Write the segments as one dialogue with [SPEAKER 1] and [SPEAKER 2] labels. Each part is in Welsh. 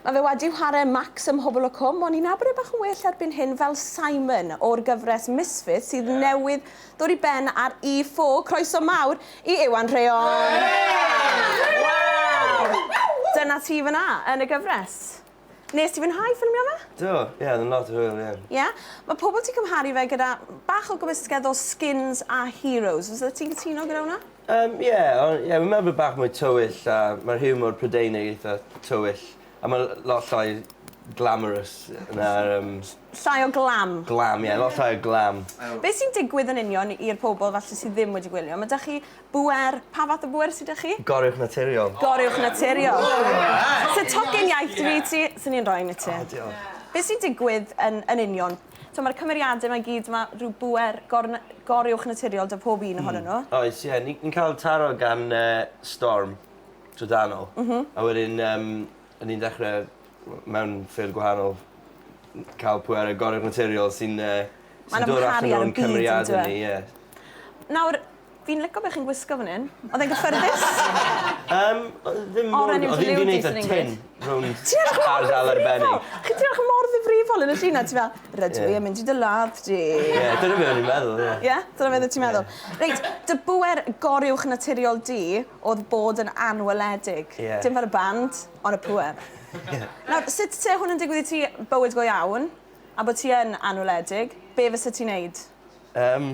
[SPEAKER 1] Mae fe wedi whare Max ym Mhobol y Cwm, ond ni'n abod e bach yn well erbyn hyn fel Simon o'r gyfres Misfits sydd newydd ddod i ben ar E4. Croeso mawr i Iwan Rheon! Dyna ti fan'na, yn y gyfres. Wnest ti fwynhau ffilmio fe? Do, ie, oedd yn lot
[SPEAKER 2] o hwyl, ie. Ie? Mae pobl 'di
[SPEAKER 1] cymharu fe gyda bach o gymysgedd o Skins a Heroes. Fysa ti'n cytuno gyda hwnna? Yym ie o-
[SPEAKER 2] ie fi'n meddwl bo' bach mwy tywyll a ma'r hiwmor Prydeinig eitha tywyll a ma' l- lot llai glamorous na'r yym... Llai o
[SPEAKER 1] glam. Glam ie lot llai o
[SPEAKER 2] glam. Be' sy'n digwydd
[SPEAKER 1] yn union i'r pobol falle sy ddim wedi gwylio? Ma' 'da chi bŵer, pa fath o bŵer sy 'da chi? Goruwch naturiol.
[SPEAKER 2] Goruwch naturiol.
[SPEAKER 1] Sa tocyn iaith 'da fi i ti, swn i'n roi un i ti. O diolch. Be' sy'n digwydd yn yn union? T'mo' ma'r cymeriade 'ma i gyd ma' rhyw bŵer gorn- goruwchnaturiol 'da pob un ohonyn n'w. Hmm oes ie ni ni'n ca'l
[SPEAKER 2] taro gan yy Storm trydanol. M-hm. A wedyn yym 'yn ni'n dechre w- mewn ffyrdd gwahanol n- ca'l pŵere goruwchnaturiol sy'n yy sy'n dod allan o'n cymeriade ni ie. Nawr
[SPEAKER 1] Fi'n lico be chi'n gwisgo fan hyn. Oedd e'n gyffyrddus? Yym, oedd e ddim mor...
[SPEAKER 2] Oren yw dy liwdys yn English. Oedd hi'n neud y tin rownd Ti edrych mor ddifrifol! ...ardal arbennig. Chi ti edrych mor
[SPEAKER 1] ddifrifol yn y llun a ti fel rydw i yn mynd i dy ladd di. Ie, dyna be o'n i'n
[SPEAKER 2] meddwl, ie. Ie? Dyna beth o' ti'n meddwl?
[SPEAKER 1] Ie. Reit, dy bŵer goruwch naturiol di o'dd bod yn anweledig. Ie. Dim fel y band, on' y pŵer. Ie. Nawr, sut se hwn yn digwydd i ti, bywyd go iawn, a bo' ti yn anweledig, be' fysa ti'n neud? Yym,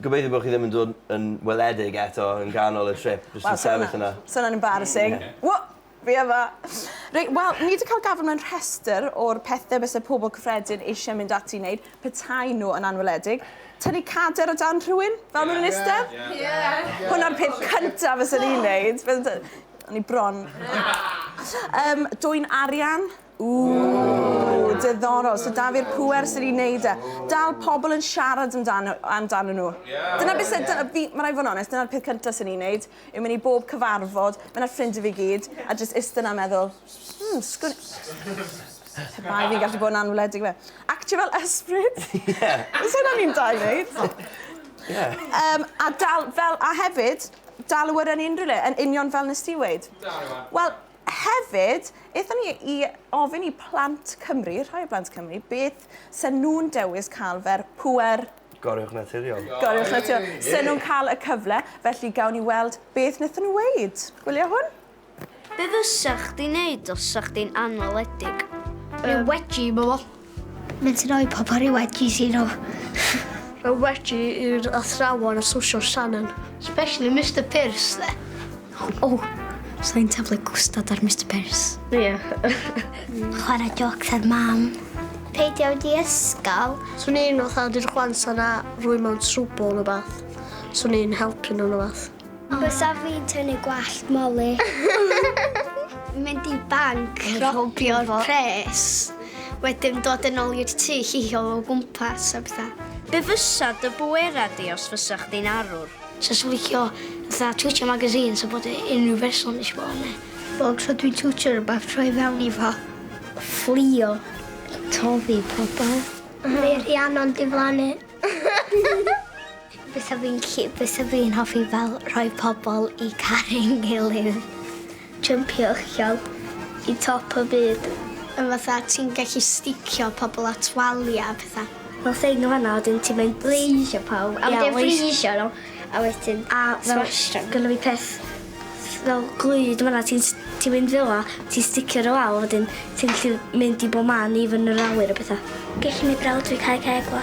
[SPEAKER 1] Gobeithio bo' chi ddim
[SPEAKER 2] yn dod yn weledig eto yn ganol y trip jyst yn sefyll yna. Sa wnna'n embarrassing.
[SPEAKER 1] Wha! Fi yma! Reit, wel, ni 'di cael gafel mewn rhestr o'r pethe byse pobol cyffredin eisiau mynd ati i wneud petaen nhw yn anweledig. Tynnu cader o dan rhywun, fel ma' nhw'n istedd? Ie! Hwnna'r peth cynta fysen i'n neud. O'n i bron. Yym, dwyn arian. Ww, diddorol. So da fi'r pwer sy'n ei wneud e. Dal pobl yn siarad amdano, amdano nhw. Yeah, dyna beth sy'n... Yeah. Fi, mae rhaid fod yn onest, dyna'r peth cyntaf sy'n ei wneud, yw mynd i bob cyfarfod, mae'n ar ffrindiau fi gyd, a jyst ista na meddwl, hmm, sgwn... Pe bai fi'n gallu bod yn anwledig fe. Actio fel ysbryd. Ie. Os hynna ni'n da i wneud. Ie. Um, a, dal, fel, a hefyd, dal y wyrra yn unrhyw le, yn union fel nes ti weid. Wel, Hefyd, aethon ni i ofyn i plant Cymru, rhai o blant Cymru, beth se nhw'n dewis cael fer pŵer... Goruwch naturiol.
[SPEAKER 2] Goruwch naturiol.
[SPEAKER 1] Se nhw'n cael y cyfle, felly gawn ni weld beth wnaethon nhw weud. Gwylio hwn. Be fysa
[SPEAKER 3] chdi'n neud os 'sa chdi'n anweledig? Dwi wedi meddwl Mae'n sy'n rhoi
[SPEAKER 4] pobl rhyw wedgies i nhw. Mae
[SPEAKER 3] wedi i'r athrawon a sosio Shannon. Especially Mister Pearce dde. O, oh,
[SPEAKER 4] so i'n taflu gwstad ar Mister Pearce. Ie. Yeah. Chwarae jocs ar mam. Peidio di
[SPEAKER 3] ysgol. Swn i'n fatha di'r chwans yna rwy mewn trwbl yn y bath. Swn i'n helpu nhw'n y bath. Bysa fi'n
[SPEAKER 4] tynnu gwallt Molly. Mynd i banc, robio'r pres, wedyn dod yn ôl i'r tŷ llihio o gwmpas a bethau. Be fysa dy
[SPEAKER 3] bwera di os fysa chdi'n arwr? Sef yn licio
[SPEAKER 4] fatha twtio magazines a bod e unrhyw berson eisiau bod yna. Bob tro dwi'n twtio rhywbeth, troi fewn i fo. Fflio. Toddi pobl. Neu Rhiannon diflannu. Bysa fi'n gallu bysa fi'n hoffi fel rhoi pobol i caru'n ngilydd. Jympio uchel i top y byd. Yn fatha ti'n gallu sticio pobol at walia a petha. Fel thing yn fanna a wedyn ti'n mynd blaze pawb a wedyn freesio n'w a wedyn a smasho n'w. Gynno fi peth fel glud yn fanna ti'n s- ti'n mynd fela ti'n sticio n'w lawr wedyn ti'n gallu mynd i bo man even yr awyr a petha. Gellu neud brawd fi cau ceg fo.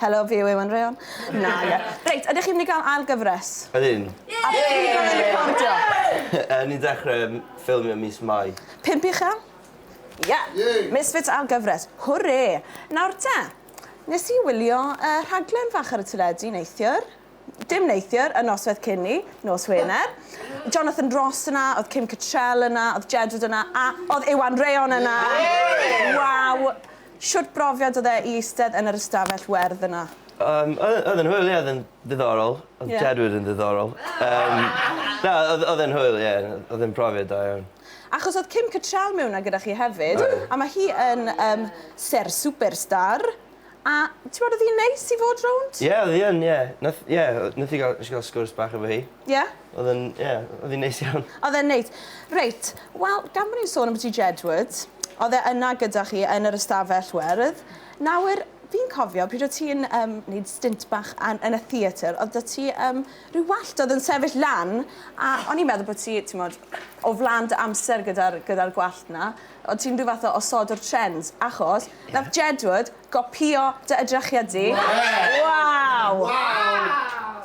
[SPEAKER 2] Helo
[SPEAKER 1] fi yw Iwan Rheon. Na ie. Reit ydych chi'n mynd i gael ail gyfres? Ydyn. Ie! A
[SPEAKER 2] pryd fydd e'n
[SPEAKER 1] recordio? Yy ni'n dechre yym
[SPEAKER 2] ffilmio mis Mai. Pump i chi? Ie!
[SPEAKER 1] Ie! Misfits ail gyfres. Hwre! Nawr te, nes i wylio y rhaglen fach ar y teledu neithiwr, dim neithiwr, y nosweth cyn 'ny, nos Wener. Jonathan Ross yna, o'dd Kim Cattrall yna, o'dd Jedward yna, a o'dd Iwan Rheon yna! Waw! Shwt brofiad odd e i eistedd yn yr ystafell werdd yna? Yym o- odd e'n
[SPEAKER 2] hwyl ie odd e'n ddiddorol. Odd Jedward yn ddiddorol. Yym na odd odd e'n hwyl ie odd e'n profiad da iawn. Achos odd Kim
[SPEAKER 1] Cattrall mewn 'na gyda chi hefyd. Oedd. A ma' hi yn yym sêr superstar a t'mod odd 'i'n neis i fod rownd. Ie odd 'i yn ie.
[SPEAKER 2] Nath ie o- nath 'i ga'l nesh i ga'l sgwrs bach efo hi. Ie? Oedd yn,
[SPEAKER 1] ie, yeah,
[SPEAKER 2] oedd hi'n neis iawn. Oedd e'n neis.
[SPEAKER 1] Reit, wel, gan bod ni'n sôn am ti Jedward, oedd e yna gyda chi yn yr ystafell werdd. Nawr, fi'n cofio pryd oedd ti'n um, wneud stint bach an, yn y theatr, oedd da ti um, rhyw wallt oedd yn sefyll lan, a o'n i'n meddwl bod ti, ti'n modd, o flan dy amser gyda'r gyda gwallt na, oedd ti'n rhyw fath o osod o'r trends, achos, yeah. nath Jedward Gopïo dy edrychiad di. Waw!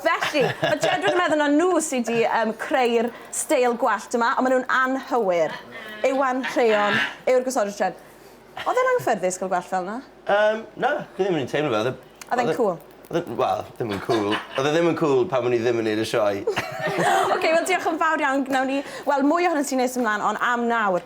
[SPEAKER 1] Felly, mae Jedward yn meddwl na nhw sydd wedi um, creu'r steil gwallt yma, ond maen nhw'n anghywir. Iwan Rheon yw'r gosodwr tren. Oedd e'n anghyffyrddus cael gwallt fel yna? Um, na, dwi
[SPEAKER 2] ddim yn teimlo fel. Oedd e'n cool?
[SPEAKER 1] Wel, ddim yn
[SPEAKER 2] cool. Oedd e ddim yn cool pan o'n i ddim yn neud y sioe. Oce, wel
[SPEAKER 1] diolch yn fawr iawn. Gnawn ni weld mwy ohono ti'n nes ymlaen, ond am nawr,